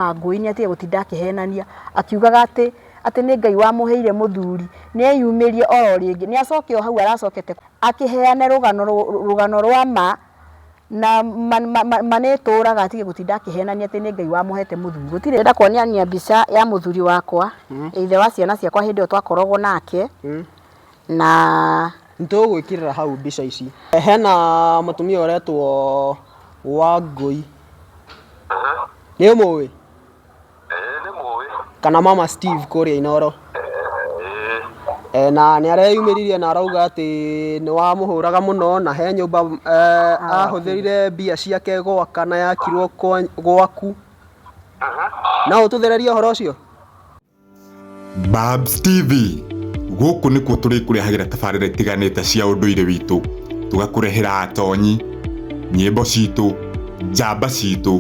na ngũĩ nĩ atige gũtinda akĩhenania akiugaga atĩ atĩ nĩ Ngai wamũheire mũthuri, nĩ eyumĩrie oro rĩngĩ, nĩ acoke o hau aracokete akĩheane rũgano rũgano rwa ma, na ma ma ma nĩ ĩtũraga atige gũtinda akĩhenania atĩ nĩ Ngai wamũhete mũthuri, gũtirĩ ndĩrenda kuonia mbica ya mũthuri wakwa, either wa ciana ciakwa hĩndĩ ĩyo twakoragwo nake. na nĩtũgũgwĩkĩrĩra hau mbica ici hena mũtumia ũretwo wangũi nĩ ũmũĩ kana mama steve kũrĩa inoro Eh, na nĩ areyumĩririe na arauga atĩ nĩ wamũhũraga mũno na he nyũmba eh, ahũthĩrire mbia ciake gwaka na yakirwo kwa- gwaku no ũtũthererie ũhoro ũcio Babs TV gũkũ nĩkuo tũrĩkũrehagĩra tabarĩra itiganĩte cia ũndũire witũ tũgakũrehera atonyi nyĩmbo citũ njamba citũ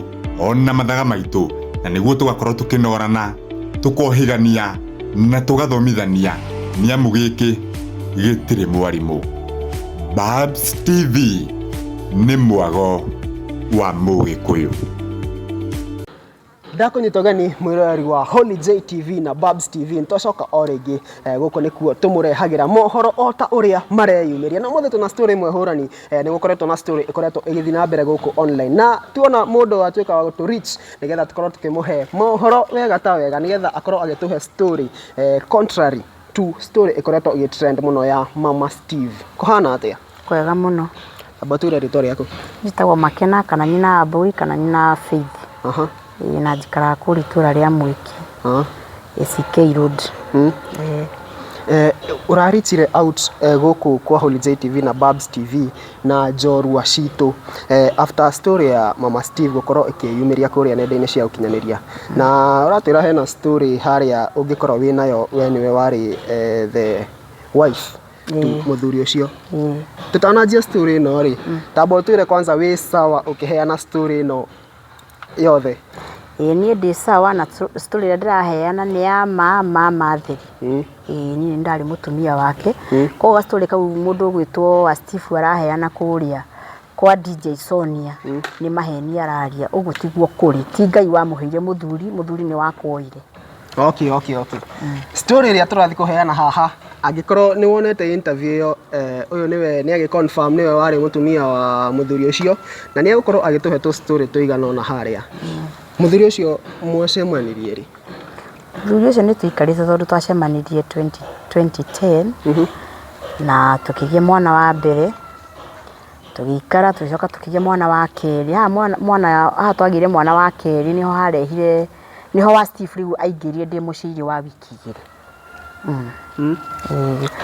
ona mathaga maitũ na nĩguo tũgakorwo tũkĩnorana tũkohĩgania na tũgathomithania nĩamu gĩkĩ gĩtirĩ mwarimũ Babs TV nĩ mwago wa mũgĩkũyũ ndakũnyita ũgeni mwĩroreri wa Holy J TV na Babs TV nĩtwacoka o rĩngĩ eh, gũkũ nĩkuo tũmũrehagĩra mohoro o ta ũrĩa mareyumĩria na mũthĩ tũna story ĩmwe hũrani eh, nĩgũkoretwo na story ĩkoretwo ĩgĩthiĩ na mbere gũkũ online na tuona mũndũ watuĩka wa gũtũ reach nĩgetha tũkorwo tũkĩmũhe mohoro wega ta wega nĩgetha akorwo agĩtũhe story eh, contrary to story ĩkoretwo ĩgĩtrend mũno ya mama steve kũhana atĩa Kwega mũno. Amba ũtwĩre rĩtwa rĩaku. Njĩtagwo Makena kana nyina wa Mbũi kana nyina wa Faith. Na njikaraga kũrĩa itũra rĩa Mwiki, ACK road. Ũra reach out gũkũ kwa Holy Joy TV na Babs TV na njorua citũ after story ya mama Steve gũkorwo ĩkĩyumĩria kũrĩa nenda-inĩ cia ũkinyanĩria. Na ũratwĩra hena story harĩa ũngĩkorwo wĩnayo we nĩwe warĩ the wife. mũthuri ũcio tũtananjia story ĩno rĩ tamba ũtwĩre kwanza wĩ sawa ũkĩheana story ĩno yothe ĩĩ niĩ ndĩ sawa na tũ- story ĩrĩa ndĩraheana nĩ ya ma ma matheri Mm. ĩĩ niĩ nĩ ndarĩ mũtumia wake koguo ga story kau mũndũ ũgwĩtwo wa Steve araheana kũrĩa kwa DJ Sonia nĩ maheni araria ũguo tiguo kũrĩ ti Ngai wamũheire mũthuri mũthuri nĩ wakuoire okay okay okay story ĩrĩa tũrathiĩ kũheana haha angĩkorwo nĩ wonete interview ĩyo eh, ũyũ nĩwe nĩ agĩ confirm nĩwe warĩ mũtumia wa mũthuri ũcio na nĩ egũkorwo agĩtũhe tũ story tũigana ona harĩa mũthuri ũcio mwacemanirie rĩ mũthuri ũcio nĩ tũikarĩte tondũ twacemanirie 20 2010 na tũkĩgĩa mwana wa mbere Tũgĩikara tũgĩcoka tũkĩgĩa mwana wa kerĩ, haha mwana mwana haha twagĩire mwana wa kerĩ nĩho harehire, nĩho wa Steve rĩu aingĩrire ndĩ mũciĩ-inĩ wa wiki igĩrĩ.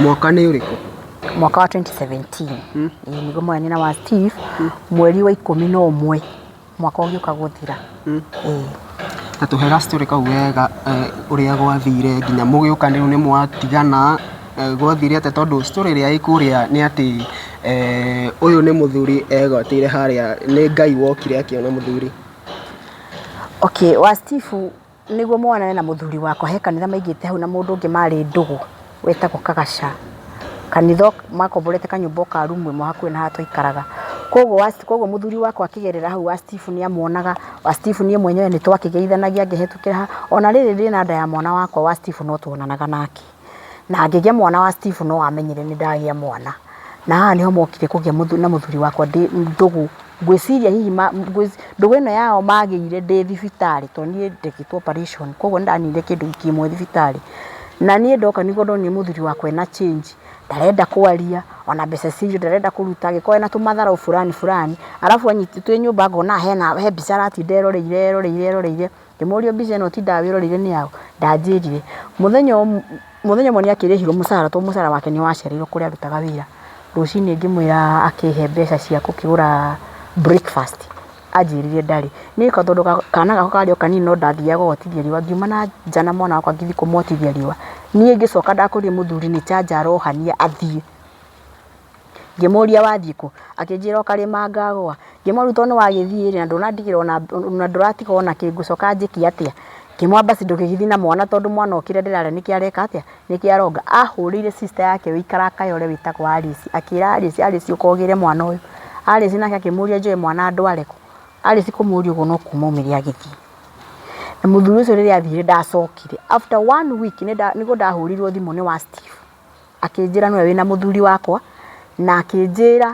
Mwaka nĩ ũrĩkũ? Mwaka wa twenty seventeen. Ĩĩ nĩguo mwarehire wa Steve, mweri wa ikũmi na ũmwe. mwaka ũgĩũka gũthira. Ta tũhe ga story kau wega ũrĩa gwathire nginya mũgĩũka rĩu nĩ mwatigana, gwathire atĩa tondũ story ĩrĩa ĩ kũrĩa nĩ atĩ ũyũ nĩ mũthuri egwatĩire harĩa, nĩ Ngai wokire akĩona mũthuri. Okay, wa Steve... Nĩguo monane na mũthuri wakwa he kanitha maigĩte hau na mũndũ ũngĩ marĩ ndũgũ wĩtagwo Kagaca. Kanitha makomborete kanyũmba o ka rumu ĩmwe hakuhĩ na harĩa twaikaraga. Kwoguo mũthuri wakwa akĩgerera hau wa Steve nĩ amonaga, wa Steve niĩ mwenyewe nĩ twakĩgeithanagia ngĩhĩtũkĩra hau. O na rĩrĩ ndĩ na nda ya mwana wakwa wa Steve no tuonanaga nake. na ngĩgĩa mwana wa Steve no amenyire nĩ ndagĩa mwana, na haha nĩho mokire kũgĩa na mũthuri wakwa ndĩ ndũgũ, ngwĩciria hihi ma ndũgũ ĩno yao magĩire ndĩ thibitarĩ tondũ niĩ ndekĩtwo operation koguo nĩ ndaninire kĩndũ wiki ĩmwe thibitarĩ, na niĩ ndoka nĩguo ndonire mũthuri wakwa ena change, ndarenda kwaria, ona mbeca cia irio ndarenda kũruta, angĩkorwo ena tũmatharaũ burani burani, arabu anyitĩtwo e nyũmba ngonaga hena he mbica aratinda eroreire eroreire eroreire. Ngĩmũria mbica ĩno ũtindaga wĩroreire nĩ yaũ? Ndanjĩrire. Mũthenya ũmwe nĩ akĩrĩhirwo mũcara tondũ mũcara wake nĩ wacereirwo kũrĩa arutaga wĩra. Rũcinĩ ngĩmwĩra akĩhe mbeca cia gũkĩgũra breakfast anjĩrire ndarĩ. Niĩ tondũ kana gakwa karĩ o kanini no ndathiaga gũgotithia riũa. Ngiuma na nja na mwana wakwa ngĩthiĩ kũmũotithia riũa. Niĩ ngĩcoka ndakũria mũthuri nĩ charger arohania athiĩ. Ngĩmũria wathiĩ kũ? Akĩnjĩra o karĩma ngagũa. Ngĩmũria rĩu tondũ nĩ wagĩthiĩ rĩ, na ndũnandigĩra ona na ndũratiga ona kĩ, ngũcoka njĩke atĩa? Ngĩmwĩra basi ndũgĩgĩthiĩ na mwana tondũ mwana o kĩrĩa ndĩrarĩa nĩkĩo areka atĩa, nĩkĩo aronga. Ahũrĩire sister yake wĩ ikarakaĩ ũrĩa wĩtagwo Alice, akĩra Alice, Alice ũka ũgĩre mwana ũyũ. Alice nake akĩmũria njoe mwana ndware kũ? Alice kũmũria ũguo no kuuma aumire agĩthiĩ. Na mũthuri ũcio rĩrĩa athire ndacokire. After one week nĩ nda, nĩ gũndahũrĩirwo thimũ nĩ wa Steve. Akĩnjĩra nĩwe wĩna mũthuri wakwa, na akĩnjĩra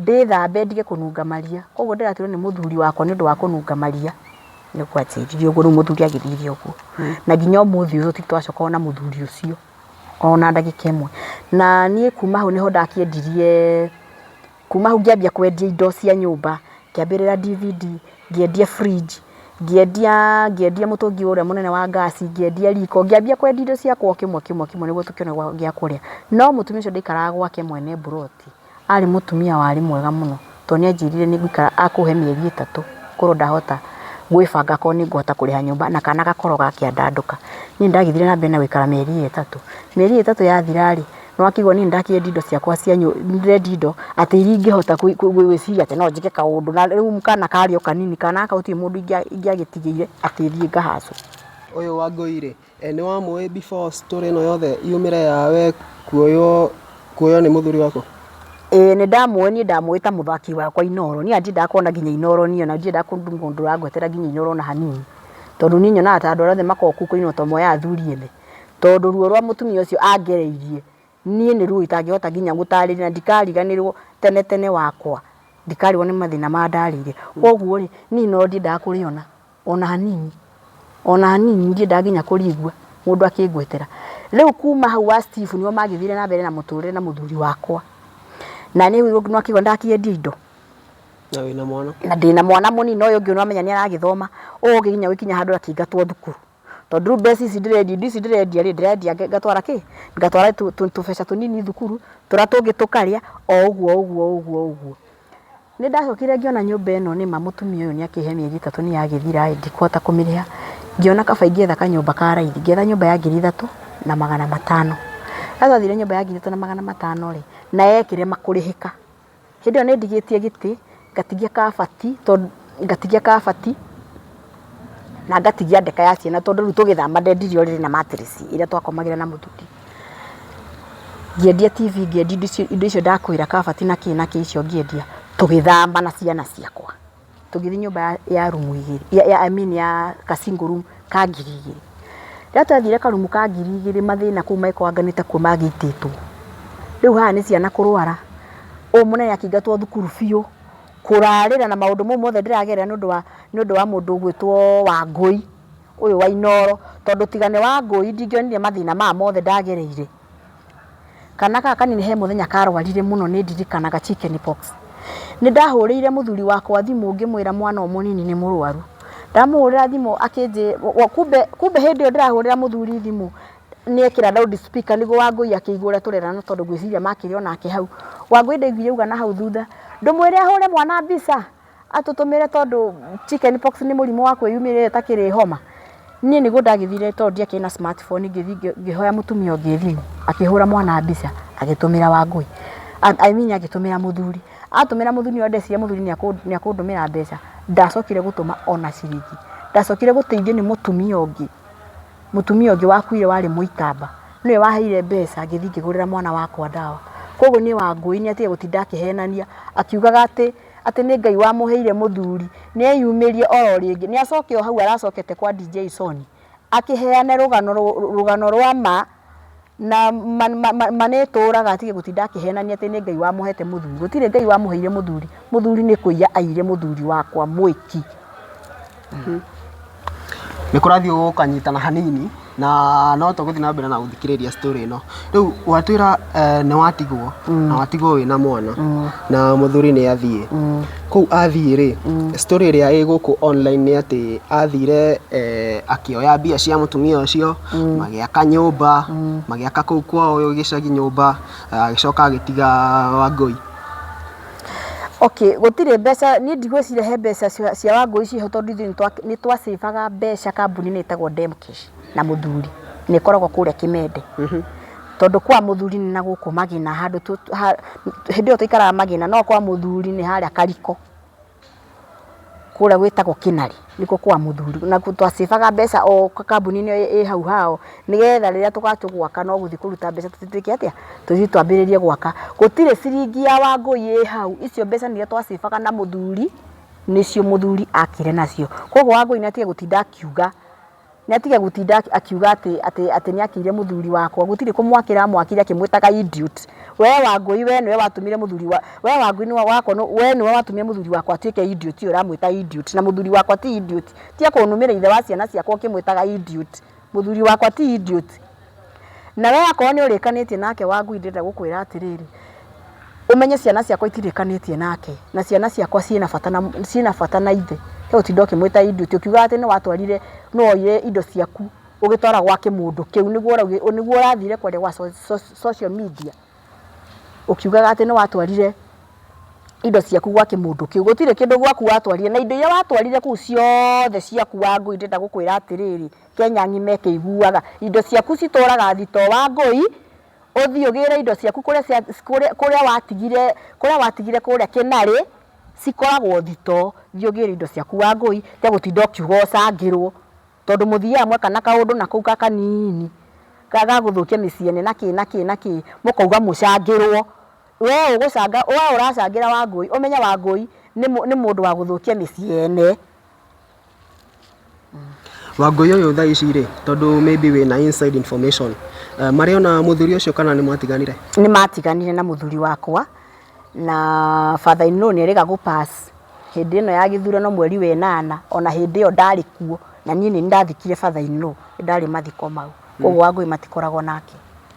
ndĩthambe ndige kũnunga maria. Koguo ndĩraturwo nĩ mũthuri wakwa nĩ ũndũ wa kũnunga maria, nĩguo anjĩrire ũguo. Rĩu mũthuri agĩthire ũguo. Na nginya ũmũthĩ ũyũ tũtirĩ twacooka kuona mũthuri ũcio, ona ndagĩka ĩmwe. Na niĩ kuuma hau nĩho ndakĩendirie Kuma hau ngĩambia kwendia indo cia nyũmba, ngĩambĩrĩra DVD, ngĩendia fridge, ngĩendia ngĩendia mũtũngi ũrĩa mũnene wa gas, ngĩendia riko, ngĩambia kwendia indo ciakwa o kĩmwe kĩmwe kĩmwe nĩguo tũkĩone gwa gĩa kũrĩa. No mũtumia ũcio ndaikaraga gwake mwene mburoti, arĩ mũtumia warĩ mwega mũno, to nĩanjĩrire nĩngũikara akũhe mĩeri ĩtatũ ngorwo ndahota gwĩbanga akorwo nĩngũhota kũrĩha nyũmba na kana gakorwo gakĩandandũka. Niĩ nĩndagĩthire na mbere na gũikara mĩeri ĩyo ĩtatũ. Mĩeri ĩyo ĩtatũ yathira-rĩ, Nĩ wakĩigua niĩ nĩ ndakĩendia indo ciakwa cia nĩ ndĩrendia indo atĩ iria ingĩhota gwĩciria atĩ no njĩke kaũndũ. Na rĩu kana karĩ o kanini, kana gaka gũtirĩ mũndũ ingĩagĩtigĩire atĩ thiĩ ngahaco. Ũyũ Wangũi rĩ, nĩ wamũĩ before story ĩno yothe yumĩre ya we kuoywo kuoywo nĩ mũthuri waku? Ĩĩ nĩ ndamũĩ niĩ ndamũĩ ta mũthaki wakwa Inooro. Niĩ ona ndiendaga kuona nginya Inooro niĩ ona ndiendaga kũndũ mũndũ ũrangwetera nginya Inooro ona hanini. Tondũ niĩ nyonaga ta andũ arĩa othe makoragwo kũu kwa Inooro to moyaga athuri ene. tondũ ruo rwa mũtumia ũcio angereirie niĩ nĩ ruo itangĩhota nginya gũtarĩria na ndikariganĩrwo tene tene wakwa, ndikarigwo nĩ mathĩna mandarĩire. Koguo rĩ, niĩ no ndiendaga kũrĩona ona hanini, ona hanini ndiendaga nginya kũrĩigua mũndũ akĩngwetera. Rĩu kuma hau wa Steve nĩo magĩthire na mbere na mũtũrĩre na mũthuri wakwa. Na niĩ rĩu nĩ wakĩigua nĩ ndakĩendia indo Na wĩna mwana. na ndĩna mwana mũnini na ũyũ ũngĩ nĩ wamenya nĩ aragĩthoma, ũngĩkinya gũkinya handũ akĩingatwo thukuru. tondũ rĩu mbeca ici ndĩrendia, indo ici ndĩrendia rĩ, ndĩrendia ngatwara kĩ? Ngatwara tũbeca tũnini thukuru, tũrĩa tũngĩ tũkarĩa, o ũguo o ũguo o ũguo o ũguo. Nĩ ndacokire ngĩona nyũmba ĩno nĩ ma mũtumia ũyũ nĩ akĩhe mĩeri ĩtatũ nĩ yagĩthira ĩ, ndikũhota kũmĩrĩha, ngĩona kaba ingĩetha kanyũmba ka raithi, ngĩetha nyũmba ya ngiri ithatũ na magana matano. Ndathire nyũmba ya ngiri ithatũ na magana matano rĩ, na yekire kũrĩhĩka. Hĩndĩ ĩyo nĩndigĩtie gĩtĩ, ngatigia kabati tondũ, ngatigia kabati, na ngatigia ndeka ya ciana tondũ rĩu tũgĩthama ndendirie ũrĩrĩ na matirĩci ĩrĩa twakomagĩra na mũthuuri. Ngĩendia TV, ngĩendia indo icio ndakwĩra, kabati na kĩ na kĩ icio ngĩendia, tũgĩthama na ciana ciakwa. tũgĩthiĩ nyũmba ya ya rumu igĩrĩ ya- ya I mean ya ka single room ka ngiri igĩrĩ. Rĩrĩa twathire karumu ka ngiri igĩrĩ mathĩna kũu mangĩkorwo anga nĩtakuo mangĩitĩtwo. Rĩu haha nĩ ciana kũrwara, ũyũ mũnene akĩingatwo thukuru biũ, kũrarĩra na maũndũ mau mothe ndĩragerera nĩũndũ wa nĩũndũ wa mũndũ ũgwĩtwo Wangũi, ũyũ wa Inooro, tondũ tiga nĩ Wangũi ndingĩonire mathĩna maya mothe ndagereire. Kana gaka kanini he mũthenya karwarire mũno nĩ ndirikanaga chicken pox. Nĩ ndahũrĩire mũthuri wakwa thimũ ngĩmwĩra mwana ũyũ mũnini nĩ mũrwaru. Ndamũhũrĩra thimũ akĩnjĩra, kumbe, kumbe hĩndĩ ĩyo ndĩrahũrĩra mũthuri thimũ nĩ ekĩra loud speaker nĩguo Wangũi akĩigue ũrĩa tũrerana tondũ ngwĩciria makĩrĩ o nake hau. Wangũi ndaiguire auga na hau thutha, ndũmwĩre ahũre mwana mbica? atũtũmĩre tondũ chicken pox nĩ mũrimũ wa kwĩyumĩria ĩtakĩrĩ homa. Niĩ nĩguo ndagĩthire tondũ ndiakĩrĩ na smart phone ngĩthiĩ ngĩhoya mũtumia ũngĩ thimũ akĩhũra mwana mbica agĩtũmĩra Wangũi, I mean agĩtũmĩra mũthuri. Atũmĩra mũthuri nĩwe ndecirĩria mũthuri nĩekũndũmĩra mbeca, ndacokire gũtũma ona ciringi. Ndacokire gũteithio nĩ mũtumia ũngĩ, mũtumia ũngĩ wakuire warĩ mũikamba, nĩwe waheire mbeca ngĩthiĩ ngĩgũrĩra mwana wakwa ndawa. Kũguo niĩ Wangũi nĩatigire gũtinda akĩhenania akiugaga atĩ... atĩ nĩ Ngai wamũheire mũthuri, nĩ eyumĩrie oro rĩngĩ, nĩ acoke o hau aracokete kwa DJ Soni, akĩheane rũgano rũgano rwa ma, na ma ma ma nĩ ĩtũraga atige gũtinda akĩhenania atĩ nĩ Ngai wamũhete mũthuri, gũtirĩ Ngai wamũheire mũthuri, mũthuri nĩ kũiya aiyire mũthuri wakwa mwĩki. nĩ kũrathiĩ gũkanyitana hanini na no tũgũthiĩ na mbere na gũthikĩrĩria story ĩno rĩu watwĩra eh, nĩ watigwo na watigwo wĩna mwana na mũthuri nĩ athiĩ kũu athiĩ rĩ story ĩrĩa ĩ gũkũ online nĩ atĩ athire eh, akĩoya mbia cia mũtumia ũcio magĩaka nyũmba magĩaka kũu kwao gĩcagi nyũmba agĩcoka agĩtiga wangũi Okay, gũtirĩ mbeca, niĩ ndigwĩciria he mbeca cia Wangũi ciĩho tondũ ithuĩ nĩ twa save aga mbeca kambuni-inĩ ĩtagwo Demcash na mũthuri, na ĩkoragwo kũrĩa Kĩmende. Tondũ kwa mũthuri nĩ na gũkũ Magina handũ, hĩndĩ ĩyo twaikaraga Magina, no kwa mũthuri nĩ harĩa Kariko. kũrĩa gwĩtagwo Kĩnari, nĩkuo kwa mũthuri. Nakuo twa save aga mbeca o kambuni-inĩ ĩyo ĩ hau hao, nĩgetha rĩrĩa tũgatuĩka atĩ gwaka no gũthiĩ kũruta mbeca tũthiĩ twĩke atĩa, tũthiĩ twambĩrĩrie gwaka. Gũtirĩ ciringi ya Wangũi ĩ hau, icio mbeca nĩ iria twa save aga na mũthuri, nĩcio mũthuri aakire nacio. Kwoguo Wangũi nĩ atige gũtinda akiuga. Nĩ atige gũtinda akiuga atĩ atĩ atĩ nĩ akĩire mũthuri wakwa gũtirĩ kũmwakĩra amwakire akĩmwĩtaga idiot. Wee Wangũi wee nĩwe watũmire mũthuri wa wee Wangũi nĩwe wakwa wee nĩwe watũmire mũthuri wakwa atuĩke idiot ũyũ ũramwĩta idiot na mũthuri wakwa ti idiot. Tiga kũnũmĩra ithe wa ciana ciakwa ũkĩmwĩtaga idiot. Mũthuri wakwa ti idiot. Nawe akorwo nĩ ũrĩkanĩtie nake Wangui ndĩrenda gũkwĩra atĩrĩrĩ, ũmenye ciana ciakwa itirĩkanĩtie nake na ciana ciakwa ciĩna bata na ciĩna bata na ithe. He gũtinda ũkĩmwĩta Idi ũtĩ ũkiugaga atĩ nĩwatwarire nĩwoire indo ciaku ũgĩtwara gwa kĩmũndũ kĩu nĩguo ũraugire nĩguo ũrathire kwaria gwa social media ũkiugaga atĩ nĩwatwarire indo ciaku gwa kĩmũndũ kĩu. Gũtirĩ kĩndũ gwaku watwarire na indo iria watwarire kũu ciothe ciaku Wangui ndĩrenda gũkwĩra atĩrĩrĩ. Kenya angĩ mekĩiguaga. Indo ciaku citũraga thitoo wa ngũi, ũthiĩ ũgĩre indo ciaku kũrĩa cia kũrĩa kũrĩa watigire kũrĩa watigire kũrĩa kĩnarĩ, cikoragwo thitoo. Thiĩ ũgĩre indo ciaku wa ngũi, tiga gũtinda ũkiuga ũcangĩrwo. Tondũ mũthiaga mweka na kaũndũ na kũu ga kaniini, ga ga gũthũkia mĩciĩ ene na kĩ na kĩ na kĩ, mũkauga mũcangĩrwo. Wee ũgũcanga wee ũracangĩra wa ngũi, ũmenye wa ngũi nĩ nĩ mũndũ wa gũthũkia mĩciĩ ene. Wangũi ũyũ thaa ici rĩ, tondũ maybe wĩna inside information, marĩ ona mũthuri ũcio kana nĩ mwatiganire? Nĩ matiganire na mũthuri wakwa, na father in law nĩ erĩga gũ pass hĩndĩ ĩno ya gĩthurano mweri wa ĩnana, ona hĩndĩ ĩyo ndarĩ kuo, na niĩ nĩ niĩ ndathikire father in law, nĩ ndarĩ mathiko mau. Kũguo Wangũi matikoragwo nake.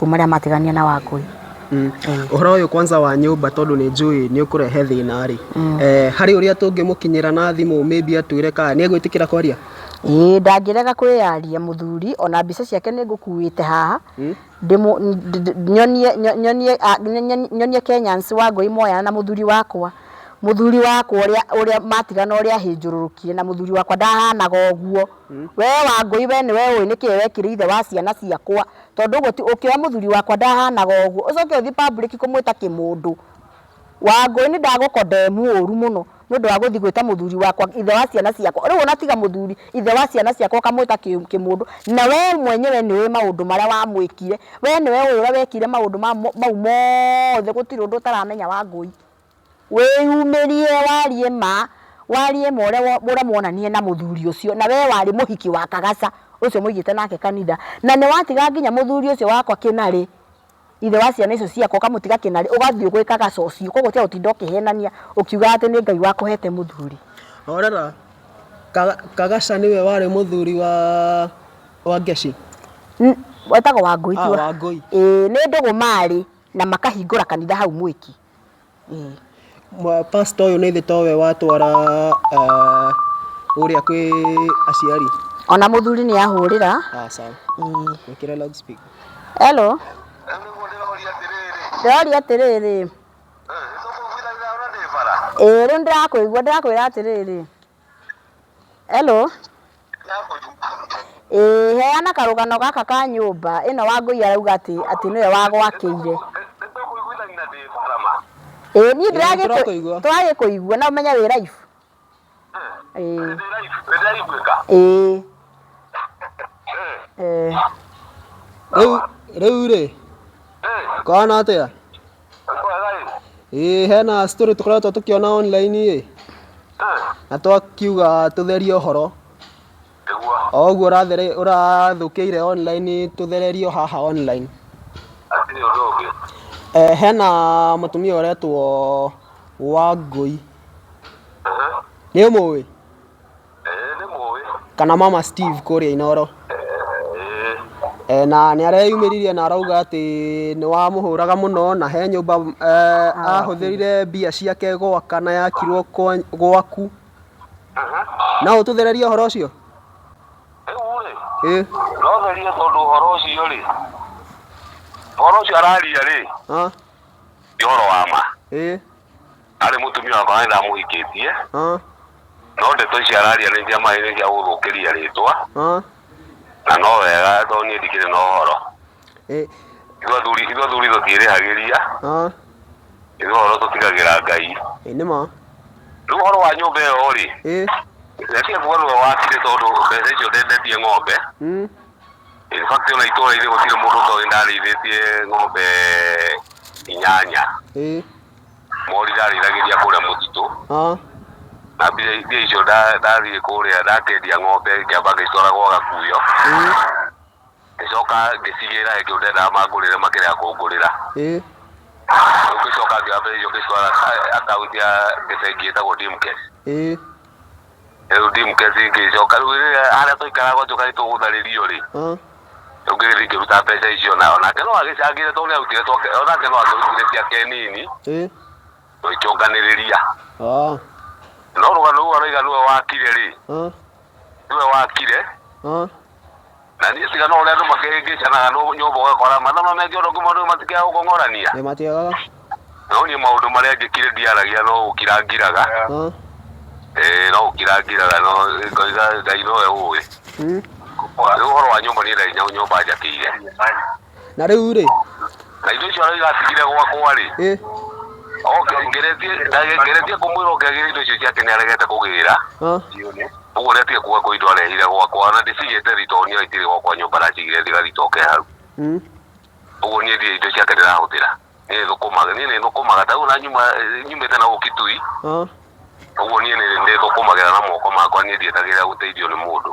mabuku marĩa matigania na Wangũi. Mm. Mm. Ũhoro ũyũ kwanza wa nyũmba tondũ nĩ njũĩ nĩ ũkũrehe thĩna rĩ, mm. eh, harĩ ũrĩa tũngĩmũkinyĩra na thimũ maybe atwĩre kana nĩ egwĩtĩkĩra kwaria ĩĩ ndangĩrega kwĩyaria mũthuri ona mbica ciake nĩ ngũkuĩte haha mm. nyonie nyonie nyonie Kenyans wa ngũi moyana na mũthuri wakwa muthuri wakwa uria uria matigana uria hinjururukire na muthuri wakwa ndahanaga uguo mm. we wa ngui we ni we ui niki wekire ithe wa ciana ciakwa Tondũ ũguo ti ũkĩoya mũthuri wakwa ndahanaga ũguo ũcoke ũthiĩ public kũmwĩta kĩmũndũ. Wangũi nĩ ndagũcondemn ũru mũno nĩ ũndũ wa gũthiĩ gwĩta mũthuri wakwa ithe wa ciana ciakwa. Rĩu ona tiga mũthuri ithe wa ciana ciakwa ũkamwĩta kĩmũndũ na wee mwenyewe nĩ ũĩ maũndũ marĩa wamwĩkire. Wee nĩwe ũĩ ũrĩa wekire maũndũ mau mothe gũtirĩ ũndũ ũtaramenya Wangũi. Wĩyumĩrie warie ma, warie ma ũrĩa ũramwonanire na mũthuri ũcio, na wee warĩ mũhiki wa kagaca ũcio mũigĩte nake kanitha, na nĩ watiga nginya mũthuri ũcio wakwa kĩnarĩ, ithe wa ciana icio ciakwa ũkamũtiga kĩnarĩ, ũgathiĩ gwĩ kagaca ũcio, koguo tiga gũtinda ũkĩhenania ũkiugaga atĩ nĩ Ngai wakũhete mũthuri. Horera, kagaca nĩwe warĩ mũthuri wa Wangeci? Wetagwo Wangũi tiwe? Wangũi. Ĩĩ, nĩ ndũgũ marĩ, na makahingũra kanitha hau mwĩki. Pastor ũyũ nĩ thĩ ta ũwe watwara ah, ũrĩa kwĩ aciari ona mũthuri nĩ ahũrĩra Ah, sawa wĩkĩre loudspeaker hello Rĩu nĩguo ndĩroria atĩrĩrĩ, ndĩroria atĩrĩrĩ "Eh, nĩtũkũiguithanĩra ona ndĩ bara?" ĩĩ rĩu ndĩrakũigua ndĩrakwĩra atĩrĩrĩ Hello. Ĩĩ heana karũgano gaka ka nyũmba ĩno Wangũi arauga atĩ atĩ nĩwe wagwakĩire. Ĩĩ niĩ ndĩragĩkũigua. Tũragĩkũigua na ũmenye wĩ live. Ĩĩ. Ĩĩ. Ĩĩ. Rĩu rĩu rĩ kwana atĩa ĩĩ hena story tũkoretwo tũkĩona online ĩ na twakiuga tũtherie ũhoro o ũguo ũrathere- ũrathũkĩire online tũthererio haha online Eh, hena mũtumia ũretwo wangũi nĩ ũmũĩ nĩ mũĩ kana mama steve kũrĩa inoro Eh, na nĩ areyumĩririe na arauga atĩ nĩ wamũhũraga mũno na he nyũmba eh, ahũthĩrire mbia ciake gwaka na yakirwo kwa- gwaku no ũtũthererie ũhoro ũcio rĩu rĩ ĩ no therie tondũ ũhoro ũcio rĩ ũhoro ũcio araria rĩ ah, nĩ ũhoro wa ma ĩ Arĩ mũtumia wakwa na nĩ ndamũhikĩtie, Ah, no ndeto ici araria nĩ cia maĩ nĩ cia gũthũkĩria rĩtwa, ah, na no wega tondũ niĩ ndikĩrĩ na ũhoro. eh, Ithuĩ athuri ithuĩ athuri tũtiĩrĩhagĩria, ah, ithuĩ ũhoro tũtigagĩra Ngai. eh, nĩ ma. Rĩu ũhoro wa nyũmba ĩyo rĩ, Eh, ndetia kuga nĩwe wakire tondũ mbeca icio ndendetie ng'ombe. mm, In fact ona itũũra-inĩ gũtirĩ mũndũ ũtoĩ ndarĩithĩtie ng'ombe inyanya. eh, Mori ndarĩithagĩria kũrĩa mũtitũ. Ah. Na mbia mbia icio nda- ndathiĩ kũrĩa ndakendia ng'ombe ngĩamba ngĩcitwara gwa gakuyo. Ĩĩ. Ngĩcoka ngĩcigĩra ĩngĩ ndendaga mangũrĩre makĩrega kũngũrĩra. Ĩĩ. Rĩu ngĩcoka ngĩoya mbia icio ngĩcitwara akaunti ya bengi ĩtagwo Dimcare. Ĩĩ. rĩu ndimkesi ngĩcoka rĩu rĩrĩa harĩa twaikaraga njoka nĩtũgũtharĩrio rĩ Mm. rĩu ngĩgĩthiĩ ngĩruta mbeca icio na onake no agĩcangire tondũ nĩarutire twake onake no akĩrutire ciake nini Eh. tũgĩkĩonganĩrĩria Ah. no rũgano rũu aroiga nĩwe wakire rĩ Ah. nĩwe wakire Ah. Na niĩ tiga no ũrĩa andũ makĩhĩngĩcanaga nũ- nyũmba ũgakora matha no meke ũndũ kumwe nĩ matikiaga gũkong'orania Nĩ matiagaga. no niĩ maũndũ marĩa njĩkire ndiaragia no gũkira ngiraga Ha? Eh, no gũkira ngiraga no ngoiga ngai nowe ũĩ Mm. rĩu ũhoro wa nyũmba niĩ ndarĩ nyũmba njakĩire na rĩu rĩ na indo icio aroiga atigire gwakwa-rĩ ĩ oke ngeretie ndage- ngeretie kũmwĩra oke agĩre indo icio ciake nĩ aregete kũgĩra ah, ũguo nĩ atige kuga kwĩ indo arehire gwakwa na ndĩcigĩte thitoo niyo itirĩ gwakwa nyũmba ndacigire thiga thitoo oke hau mm, ũguo niĩ ndirĩ indo ciake ndĩrahũthĩra niĩ thũkũmaga niĩ nĩ thũkũmaga ta rĩu ona nyuma nyumĩte na ũki tui ah, ũguo niĩ nĩ- nĩ thũkũmagĩra na moko makwa niĩ ndietagĩrĩra gũteithio nĩ mũndũ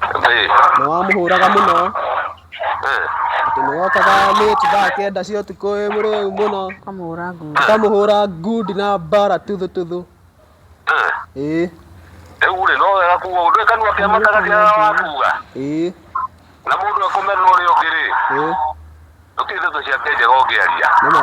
Ĩĩ. na wamũhũraga mũno Ĩĩ. atĩ nĩ wokaga late thaa kenda cia ũtukũ wĩ mũrĩu mũno Kamũhũra ngundi. ũkamũhũra ngundi na mbara tuthũ tuthũ Ĩĩ. ĩĩ Rĩu rĩ, no wega kuga ũndũ kanua kĩa matagati arĩa wakuga. ĩĩ Na mũndũ ekũmena ũrĩa ũngĩ rĩ, ĩĩ gũtirĩ ndeto ciake njega ũngĩaria. nĩ ma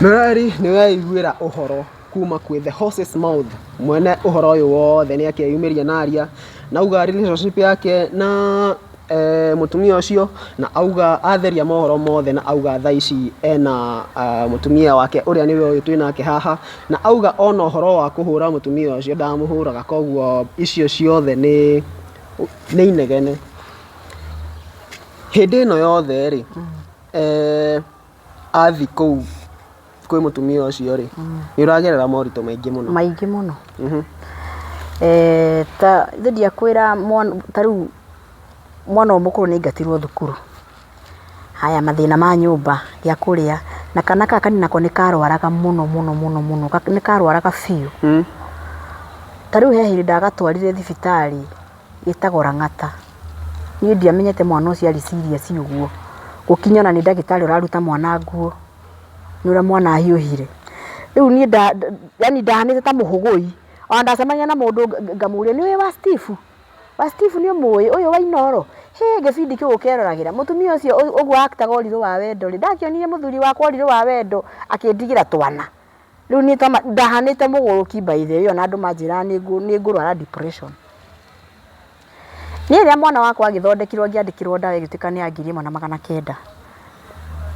Mĩrari nĩ weiguĩra ũhoro kuma kwĩ the horse's mouth mwene ũhoro ũyũ wothe nĩ akeyumĩria na aria na auga relationship yake na eh, mũtumia ũcio na auga atheria mohoro mothe na auga thaa ici ena ah, mũtumia wake ũrĩa nĩwe ũyũ twĩ nake haha na auga ona ũhoro wa kũhũra mũtumia ũcio ndamũhũraga koguo icio ciothe nĩ nĩ inegene Hĩndĩ ĩno yothe rĩ, athiĩ kũu kwĩ mũtumia ũcio rĩ, nĩ ũragerera moritũ maingĩ mũno. Maingĩ mũno. Ta rĩu ingĩakwĩra ta rĩu mwana ũyũ mũkũrũ nĩ aingatirwo thukuru, haya mathĩna ma nyũmba, gĩa kũrĩa, na kana gaka kanini nako nĩ karwaraga mũno mũno mũno, nĩ karwaraga biũ. Ta rĩu he hĩndĩ ndagatwarire thibitarĩ. Ĩtagwo Lang'ata. Niĩ ndiamenyete mwana ũcio arĩ serious ũguo, gũkinya ona nĩ ndagĩtarĩ ũraruta mwana nguo, nĩ ũrĩa mwana ahiũhire. Rĩu niĩ nda yaani ndahanĩte ta mũhũgũi. Ona ndacemania na mũndũ ngamũria nĩ ũyũ wa Steve? Wa Steve nĩ ũmũĩ? Ũyũ wa Inooro? Hĩ gĩbindi kĩu gũkeroragĩra. Mũtumia ũcio ũguo a actor ga Ũrirũ wa Wendo rĩ, ndakĩonire mũthuri wakwa Ũrirũ wa Wendo akĩndigĩra twana. Rĩu niĩ toma, ndahanĩte mũgũrũki by the way, ona andũ manjĩraga nĩ nĩ ngũrwara depression. Niĩ rĩrĩa mwana wakwa agĩthondekirwo ngĩandĩkĩrwo ndawa ĩgĩtuĩka nĩ ya ngiri ĩmwe na magana kenda,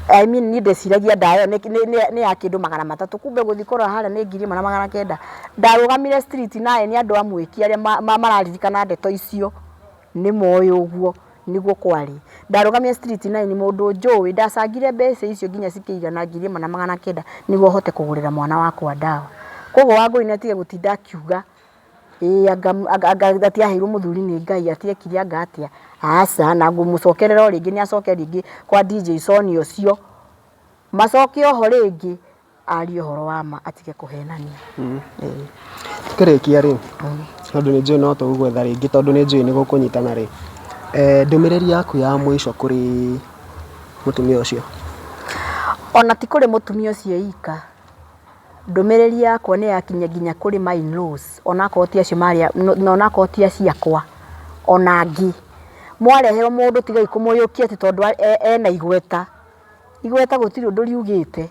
I mean niĩ ndeciragia ndawa ĩyo nĩ nĩ nĩ ya kĩndũ magana matatũ, kumbe gũthiĩ kũrora harĩa nĩ ngiri ĩmwe na magana kenda. Ndarũgamire street naye nĩ andũ a Mwĩki arĩa mararirikana ndeto icio. Nĩ moĩ ũguo nĩguo kwarĩ. Ndarũgamire street nine mũndũ njũĩ ndacangire mbeca icio nginya cikĩigana ngiri ĩmwe na magana kenda nĩguo hote kũgũrĩra mwana wakwa ndawa. Kwoguo Wangũi nĩ atige gũtinda akiuga ĩĩ anga atĩ aheirwo mũthuri nĩ Ngai atĩ ekire anga atĩa. Aca na ngũmũcokerera o rĩngĩ nĩ acoke rĩngĩ kwa DJ Sonia ũcio. Macoke oho rĩngĩ. Arie ũhoro wa ma atige kũhenania. Tũkĩrĩkia rĩ, tondũ nĩ njũĩ no tũgũgwetha rĩngĩ tondũ nĩ njũĩ nĩ gũkũnyitana rĩ, ndũmĩrĩri yaku ya mũico kũrĩ mũtumia ũcio? Ona ti kũrĩ mũtumia ũcio wika, ndũmĩrĩri yakwa nĩ yakinya nginya kũrĩ ma in laws ona akorwo ti acio marĩ a, na ona akorwo ti acio akwa, ona angĩ. Mwareherwo mũndũ tigai kũmũiyũkia atĩ tondũ ena igweta Igweta gũtirĩ ũndũ riugĩte,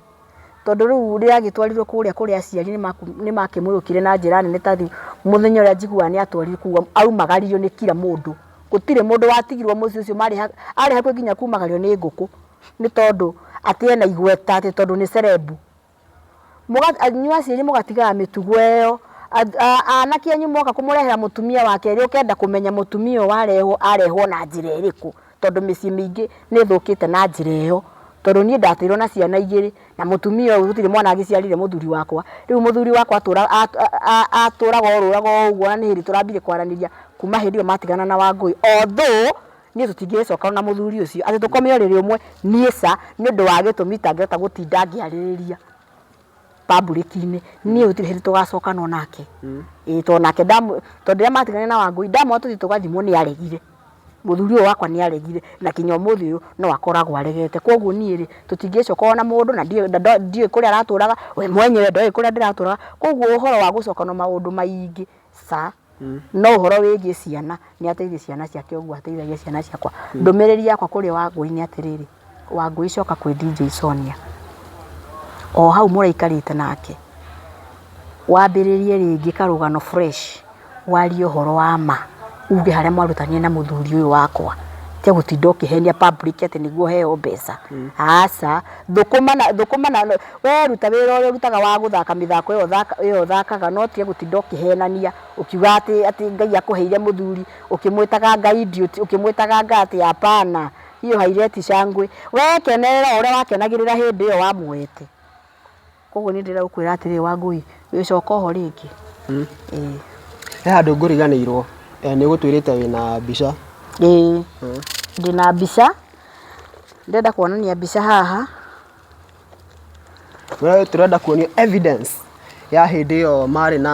tondũ rĩu rĩagĩtwarirwo kũrĩa kũrĩ aciari nĩ makĩmũrũkire na njĩra nene ta rĩu mũthenya ũrĩa njiguaga nĩ atwarirwo kũu aumagario nĩ kira mũndũ. Gũtirĩ mũndũ watigirwo mũciĩ ũcio marĩ arĩ hakuhĩ nginya kumagario nĩ ngũkũ nĩ tondũ atĩ ena igweta atĩ tondũ nĩ cerebu. Mũga, inyuĩ aciari mũgatigaga mĩtugo ĩyo. Anake anyu moka kũmũrehera mũtumia wa kerĩ ũkenda kũmenya mũtumia ũyũ warehwo arehwo na njĩra ĩrĩkũ, tondũ mĩciĩ mĩingĩ nĩ ĩthũkĩte na njĩra ĩyo. Tondũ niĩ ndatũirwo na ciana igĩrĩ, na mũtumia ũyũ gũtirĩ mwana agĩciarire mũthuri wakwa. Rĩu mũthuri wakwa atũra, a, a, atũraga orũraga oũguo na nĩ hĩndĩ tũrambire kwaranĩria kuma hĩndĩ ĩyo matigana na Wangũi. Although. Niĩ tũtingĩgĩcokana na mũthuri ũcio atĩ tũkome ũrĩrĩ ũmwe, niĩ ca, nĩ ũndũ wa gĩtũmi itangĩhota gũtinda ngĩarĩrĩria pambũrĩki-inĩ. Niĩ gũtirĩ hĩndĩ tũgacokanwo nake. Ĩĩ tondũ nake ndamu, tondũ rĩrĩa matiganire na Wangũi, ndamwĩra tũthiĩ tũgathimwo nĩ aregire. Mũthuri ũyũ wakwa nĩ aregire na kinya ũmũthĩ ũyũ no akoragwo aregete. Kũguo niĩ rĩ, tũtingĩgĩcokana ona mũndũ na ndiũĩ na ndiũĩ kũrĩa aratũraga, we mwenyewe ndoĩ kũrĩa ndĩratũraga. Kũguo ũhoro wa gũcokana maũndũ maingĩ, ca. No ũhoro wĩgiĩ ciana, nĩ ateithie ciana ciake ũguo ateithagia ciana ciakwa. Ndũmĩrĩri yakwa kũrĩ Wangũi nĩ atĩrĩrĩ, Wangũi coka kwĩ DJ Sonia, o hau mũraikarĩte nake, wambĩrĩrie rĩngĩ karũgano fresh, warie ũhoro wa ma, uge harĩa mwarutanire na mũthuri ũyũ wakwa. Tiga gũtinda ũkĩhenia public atĩ nĩguo ũheo mbeca, aca. Thũkũma na thũkũma na we ruta wĩra ũrĩa ũrutaga wa gũthaka mĩthako ĩyo ũthaka ĩyo ũthakaga no ũtige gũtinda ũkĩhenania ũkiuga atĩ atĩ Ngai akũheire mũthuri ũkĩmwĩtaga Ngai ndiũti ũkĩmwĩtaga Ngai atĩ hapana hiyo haireti shangwe we kenerera o ũrĩa wakenagĩrĩra hĩndĩ ĩyo wamuoete. Koguo nĩ ndĩrakwĩra atĩrĩ Wangũi, gĩcoka oho rĩngĩ. He handũ ngũriganĩirwo, nĩ ũgũtwĩrĩte wĩna mbica. Ĩĩ ndĩna mbica, ndĩrenda kuonania mbica haha. Wee tũrenda kuonio evidence ya hĩndĩ ĩyo marĩ na.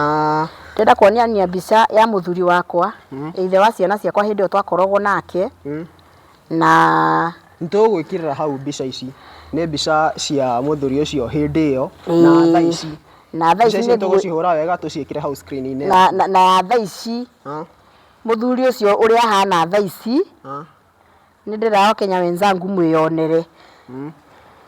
Ndĩrenda kuonania mbica ya mũthuri wakwa, ithe wa ciana ciakwa hĩndĩ ĩyo twakoragwo nake, Na nĩtũgũgwĩkĩrĩra hau mbica ici, nĩ mbica cia mũthuri ũcio hĩndĩ ĩyo na thaa ici. Na thaa ici nĩtũgũcihũra wega tũciĩkĩre hau screen inĩ. Na ya thaa ici, mũthuri ũcio ũrĩa ahana thaa ici, nĩndĩrenda akenya wenzangu mwĩyonere.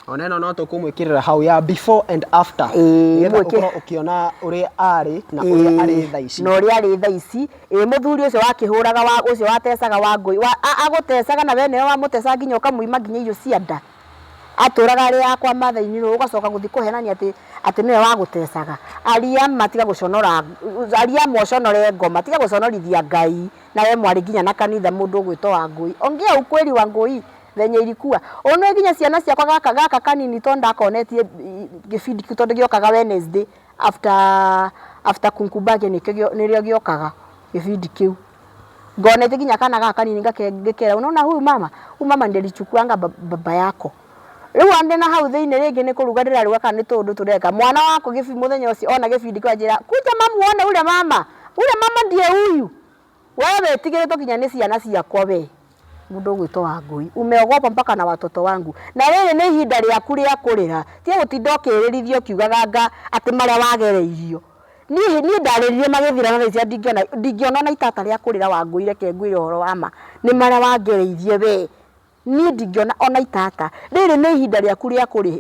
ona ĩno no tũkũmwĩkĩrĩra hau ya before and after Ĩĩ, nĩgetha mwĩkĩ- ũkorwo ũkĩona ũrĩa arĩ na ũrĩa arĩ tha ici na ũrĩa arĩ tha ici ĩ mũthuri ũcio wakĩhũraga wa ũcio watecaga wa ngũi wa- a- agũtecaga na we nĩwe wamũtecaga nginya ũkamuima nginya irio cia nda atũraga arĩ yakwa mathai-inĩ rũĩ ũgacoka gũthiĩ kũhenania atĩ atĩ nĩwe wagũtecaga ariama tiga gũconora ariama ũconore ngoma tiga gũconorithia ngai na we mwarĩ nginya na kanitha mũndũ ũgwĩtwo wa ngũi ongea ukweli wa ngũi venye ilikuwa onwe nginya ciana ciakwa gaka gaka kanini to ndakonetie gĩbindi kĩu tondũ gĩokaga Wednesday after after kunkumbage nĩkĩo gĩo- nĩrĩo gĩokaga gĩbindi kĩu ngonetie nginya kana gaka kanini ngake- ngĩkera unaona huyu mama huyu mama ndilichukuanga ba- baba yako rĩu andĩ na hau thĩinĩ rĩngĩ nĩ kũruga ndĩraruga kana nĩ tũũndũ tũreka mwana wakwa gĩbi- mũthenya ũcio ona gĩbindi kĩu anjĩra kuja mamu wone ule mama ule mama ndiye huyu Wee wĩtigĩrĩtwo nginya nĩ ciana ciakwa wee, mũndũ ũgwĩtwo Wangũi, umeogopa mpaka na watoto wangu. Na rĩrĩ nĩ ihinda rĩaku rĩa kũrĩra, tiga gũtinda ũkĩĩrĩrithia ũkiugaga nga atĩ marĩa wagereirio. Niĩ niĩ ndarĩrire magĩthira na thaa ici ndingĩona ndingĩona o na itata rĩa kũrĩra Wangũi reke ngwĩre ũhoro wa ma, nĩ marĩa wangereirie wee. Niĩ ndingĩona ona itata. Rĩrĩ nĩ ihinda rĩaku rĩa kũrĩ,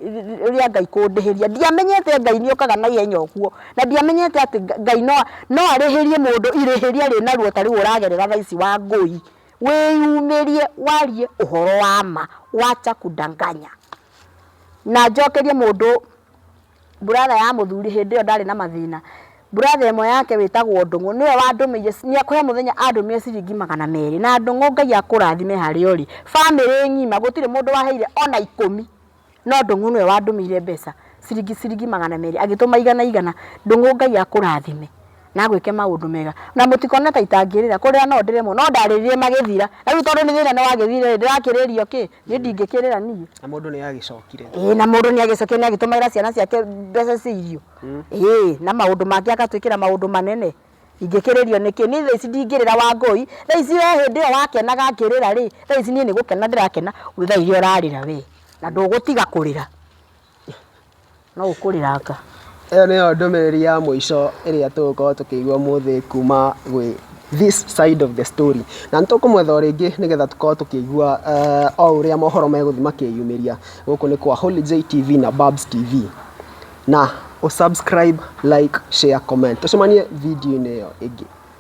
rĩa Ngai kũndĩhĩria. Ndiamenyete Ngai nĩ okaga na ihenya ũguo. Na ndiamenyete atĩ Ngai no, no arĩhĩrie mũndũ irĩhĩria arĩ naruo ta rĩu ũragerera thaa ici Wangũi. Wĩyumĩrie warie ũhoro wa ma. Wacha kudanganya. Na njokerie mũndũ. brother ya mũthuri hĩndĩ ĩyo ndarĩ na mathĩna, brother ĩmwe yake wĩtagwo Ndũng'ũ nĩwe wandũmĩire, he mũthenya andũmĩire ciringi magana merĩ, na Ndũng'ũ Ngai akũrathime harĩa ũrĩ, bamĩrĩ ng'ima gũtirĩ mũndũ waheire ona ikũmi, no Ndũng'ũ nĩwe wandũmĩire mbeca ciringi ciringi magana merĩ, agĩtũma igana igana, Ndũng'ũ Ngai akũrathime na agwĩke maũndũ mega, na mũtikone ta itangĩrĩra, kũrĩra no ndĩrĩmwo no ndarĩrire magĩthira, na rĩu tondũ thĩna nĩwagĩthira-rĩ, ndĩrakĩrĩrio kĩ? niĩ ndingĩkĩrĩra niĩ na mũndũ nĩ agĩcokire ĩĩ na mũndũ nĩ agĩcokire nĩ agĩtũmagĩra ciana ciake mbeca cia irio ĩĩ na maũndũ mangĩ agatwĩkĩra maũndũ manene ingĩkĩrĩrio nĩkĩ niĩ thaa ici ndingĩrĩra wangũi thaa ici we hĩndĩ ĩyo wakenaga ngĩrĩra rĩ thaa ici niĩ nĩ gũkena ndĩrakena we thaa iria ũrarĩra we na ndũgũtiga kũrĩra. No ũkũrĩranga. Ĩyo nĩyo ndũmĩrĩri ya mũico ĩrĩa tũgũkorwo tũkĩigua ũmũthĩ kuma gwĩ this side of the story. Na nĩ tũkũmwetha o rĩngĩ nĩgetha tũkorwo tũkĩigua o ũrĩa mohoro megũthiĩ makĩyumĩria. Gũkũ nĩ kwa Holy J TV na Babs TV. Na ũ subscribe, like, share, comment. Tũcemanie video-inĩ ĩyo ĩngĩ.